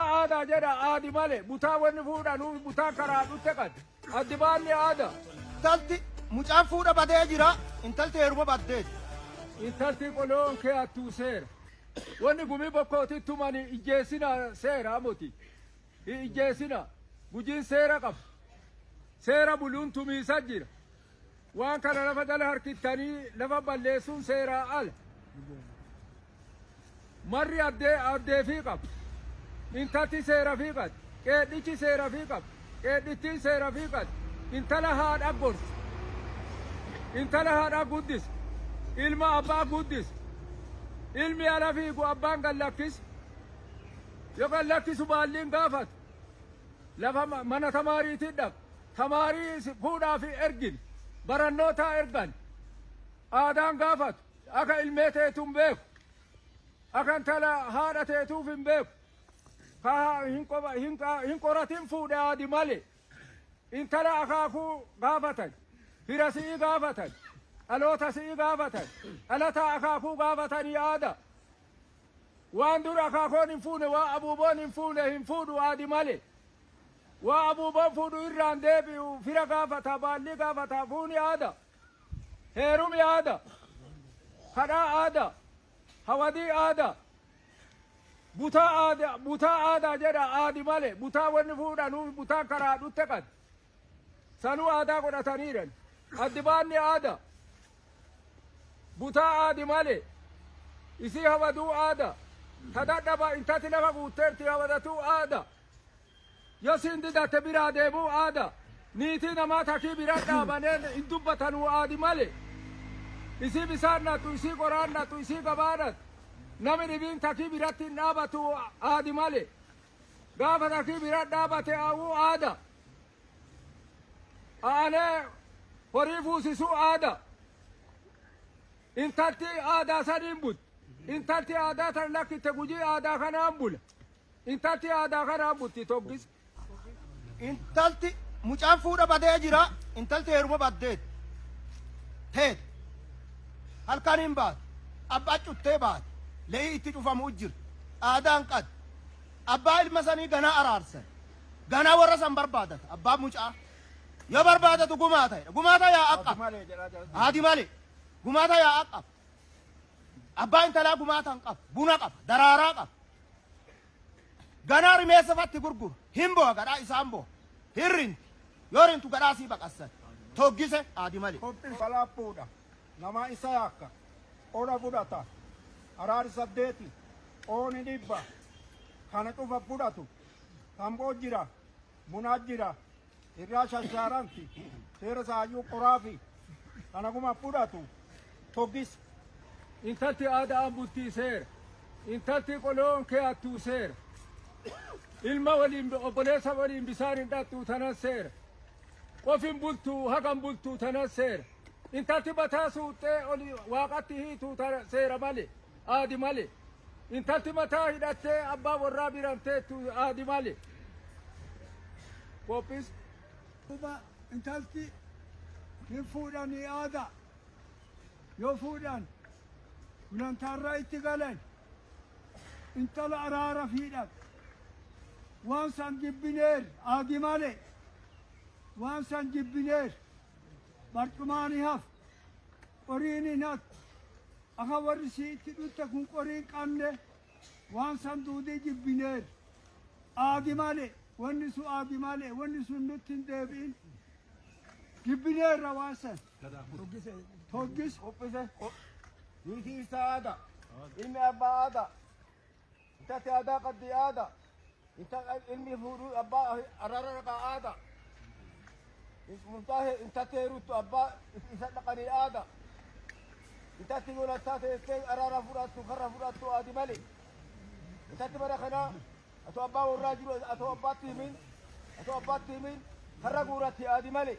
Aadaa jedha aadi male butaa wanni fuudhanuu butaa karaa dhutte qad addi baanni aada. Intalti mucaan fuudha badee jira intalti heeruma baddeeti. Intalti qoloon kee attuu seera. Wanni gumii bokkootii tumani ijjeessina seera amoti. Hi ijjeessina gujiin seera qaba. Seera buluun tumiisa jira. Waan kana lafa jala harkittanii lafa balleessuun seeraa ala. Marri abdee abdeefii qaba. Intalti seerafii qatti. Qeedhichi seerafii qaba. Qeedhittiin seerafii qatti. Intala haadha gorsa. Intala haadha guddisa. Ilma abbaa guddisa. Ilmi ala fiigu abbaan gad lakkisa. Yoo gad lakkisu baalliin gaafata. Lafa ma- mana tamaariitii dhaqa. Tamaarii si- fuudhaa fi ergine. Barannootaa ergan. Aadaan gaafatu. Aka ilmee teetu hin beeku. Aka intala haadha teetuuf hin beeku. Ka hin qoba- hin qa- hin qoratin fuudhe aadi male. Intala akaakuu gaafatan. Fira si'ii gaafatan. Dhaloota si'ii gaafatan. Dhalataa akaakuu gaafatanii aada. Waan dur akaakoon hin fuune, waan abuuboon hin fuune hin fuudhu aadi male. Waa abuuboon fuudhu irraan deebi'u fira gaafata, baallii gaafata, fuuni aada. Heerumi aada. Kadhaa aada. Hawadii aada. Butaa aada butaa aada jedha aadi male butaa wanni fuudhanu butaa karaa dhutte qad. Sanuu aadaa godhataniiran. Addi baanni aada. Butaa aadi male isii hawaduu aada. Tadadhaba intati lafa guutteerti hawadatuu aada. Yo siin didate biraa deemuu aada niitii namaa takii bira dhaabane hin dubbatanuu aadi male isii bisaan dhatu isii qoraan dhatu isii gabaa dhatu nami dhibiin takii biratti hin dhaabatu aadi male gaafa takii bira dhaabate aawuu aada aanee horii fuusisuu aada intalti aadaa saniin but intalti aadaa tan lakkitte gujii aadaa kanaan bula Intalti aadaa karaa butti toggis. Intalti mucaan fuudha badee jira. Intalti heeruma baddeet. Teet. Halkan hin baate. Abbaa cuttee baate. Le'ii itti cufamu jira. Aadaan qad. Abbaa ilma sanii ganaa araarsan. Ganaa warra san barbaadata. Abbaa mucaa. Yoo barbaadatu gumaa ta'edha. Gumaa ta'e yaa akka. Haati malee. Gumaa ta'e yaa akka. Abbaa intalaa gumaa tan qaba. Buna qaba. Daraaraa qaba. Ganaa rimeessa fatti gurguru. Hin boha gadhaa isaan boha. Hin rinti. Yoo rintu gadhaa sii baqassan. Toggise aadi male. Kophi salaapuudha. Namaa isa yaakka. Ola fudhata. Araari saddeeti. Ooni dhibba. Kana cufa fudhatu. Tamboo jira. Munaa jira. Irraa shashaaranti seera saayyuu qoraafi kanaguma fudhatu togis. Intalti aada'aan bultii seera. Intalti qoloon keeyattuu seera. Ilma waliin obboleessa waliin bisaan hin dhaqxuu tanan seera. Qofin bultuu hagan bultuu tanan seera. Intalti bataa suuxxee oli waaqatti hiituu seera malee. aadi male. Intalti mataa hidhattee abbaa warraa biraan teettu aadi male. Qophis. Duuba intalti hin fuudhanii aada. Yoo fuudhan gulantaarraa itti galan intala araara fiidhan. Waan san jibbineer aadi male. Waan san jibbineer barcumaani haf. Qoriin hin hattu. Aka worri si itti d'utte kun qori inqamne, waan san duudii jibbineef. Aagi male, wonni sun aagi male, wonni sun nutti hin deebi'in. Jibbineerra waan san. Toggise. Qophise. Niitii isaa aada. Ilmi abbaa aada. Intatti aadaa qabdi aadaa. Inta ilmi fuudhu abbaa araara dhaqaa aadaa. Murtaa'e intatti heeruttu abbaa isa dhaqanii aadaa. Intatti golattaa teessee araara fudhattu karra fudhattu aadi malee. Intatti bara kanaa atoo abbaa warraa jiru atoo abbaatti himin atoo abbaatti himin karra guuratti aadi malee.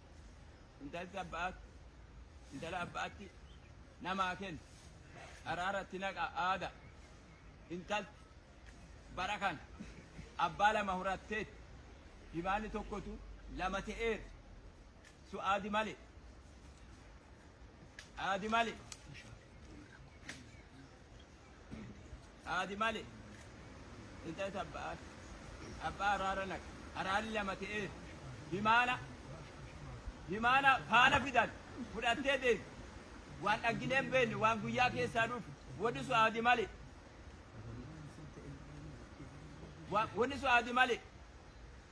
intalti abba'aatti intala abba'atti namaa kennu caraaratti naqa aada intalti bara kan abbaa lama horatteetti himaanni tokkotu lama ta'eera su aadi male aadi male Haati malee intala isa abbaa abbaa araara naqa araarri lama ta'ee himaana himaana faana fidan fudhattee deemti waan dhagginee hin beekne waan guyyaa keessaa dhufu wanni sun haati malee Wa- wanni sun haati malee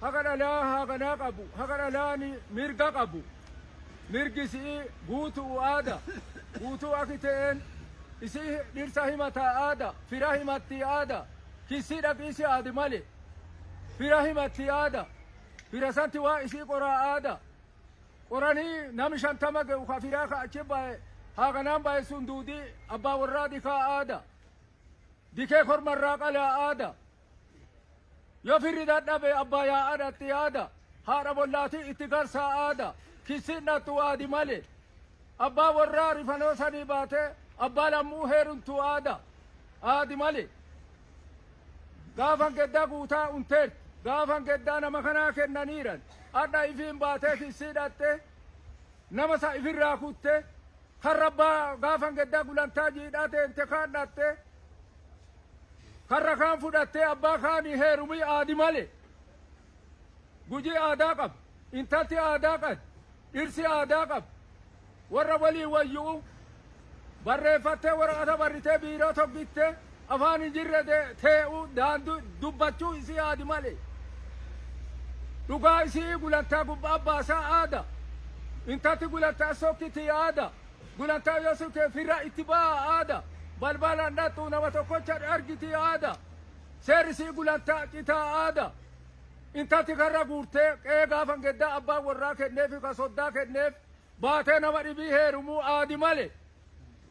Haqa dhalaa haaganaa qabu, haqa dhalaan mirga qabu, mirgi isi'ii guutu'u aada, guutuu aki te'een, isi dhirsa himata aada, fira himattii aada, kissii dhaqiisi aadi male, fira himattii aada, fira santi waa isii qoraa aada, qoranii nami shantama ge'u ka firaa ka achi baye haaganaan baye sun duudii abbaa worraa dikaa aada, dikee korma irraa qalaa aada, Yoo firri dadhabe abbaa yaa'aadha itti yaada. Haadha bollaatii itti garsaa aada. Kissiin dhattu waadi malee. Abbaa warraa rifanoo sanii baatee abbaa lammuu heerumtu aada. Aadi malee. Gaafan geddaa guutaa unteen gaafan geddaa nama kanaa kennaniiran. Adha ifiin baatee kissii dhattee nama sa ifirraa kuttee Karra abbaa gaafa geddaa gulantaa jiidhaa teente kaan dhaxxe karra kaan fudhattee abbaa kaanii heerumi aadi male gujii aadaa qaba intalti aadaa qadi dhirsi aadaa qaba warra walii wayyu'u barreeffattee waraqata barritee biiroo toggitte Afaan hinjirre tee'u daandui dubbachuu isii aadi male. Dhugaa isi'ii gulantaa gubbaa baasaa aada. Intatti gulantaa sokkitii aada. Gulantaa yoo sokke firra itti ba'aa aada. Balbalaan dhaxxuu nama tokkocha argitii aada. Seerri isii gulantaa citaa aada. Intatti karra guurtee qe'ee gaafa ngeddaa abbaan warraa kenneefi ka soddaa kenneef baatee nama dhibii heerumuu aadi male.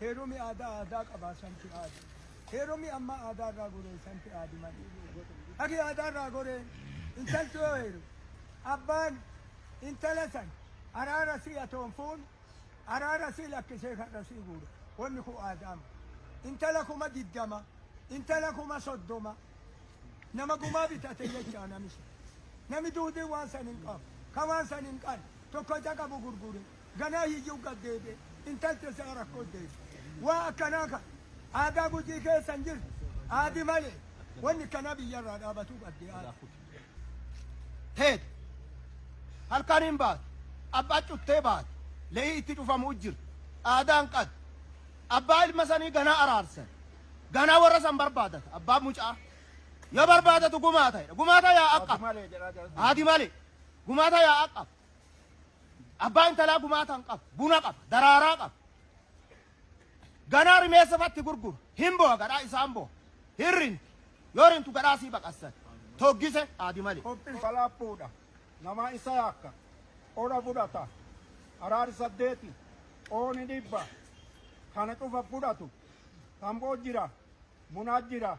Heerumi aadaa aadaa qabaa santi aadi heerumi amma aadaa irraa goree santi aadi mali haki aadaa irraa goree intalti yoo heeru abbaan intala san araara sii atoonfuun araara sii lakkisee karra sii guura wanni kun aadaama intala kuma diddama intala kuma soddoma nama gumaa bitate jechaa nami sun nami duudii waan san hin qabu ka waan san hin qan tokko isa qabu gurgure ganaa hiyyuu gad deebi'e intalti isaa rakkoo deesse. Waa akkanaa kan aadaa gujii keessa hin jirre aadi malee wanni kanaa biyyarraa dhaabatuu qabdi aadi. Teete halkan hin baatu abbaa cuttee baate le'ii itti dhufamu jirti aadaan qad abbaa ilma sanii ganaa araarsan ganaa warra san barbaadata abbaa mucaa yoo barbaadatu gumaa ta'edha gumaa ta'e yaa akka Malee jedhaa jira. aadi malee gumaa ta'e yaa akka Abbaa intalaa gumaatan qaba, buna qaba, daraaraa qaba. Ganaa rimeessa fatti gurgura. Hin boha gadhaa isaan boha. Hin rinti. Yoo rintu gadhaa sii baqassan. Toggise aadi malee. Qophiin salaaphuudha. Namaa isa yaakka. Qora fudhata. Araari saddeeti. Qooni dhibba. Kana cufa fudhatu. Tamboo jira. Munaa jira.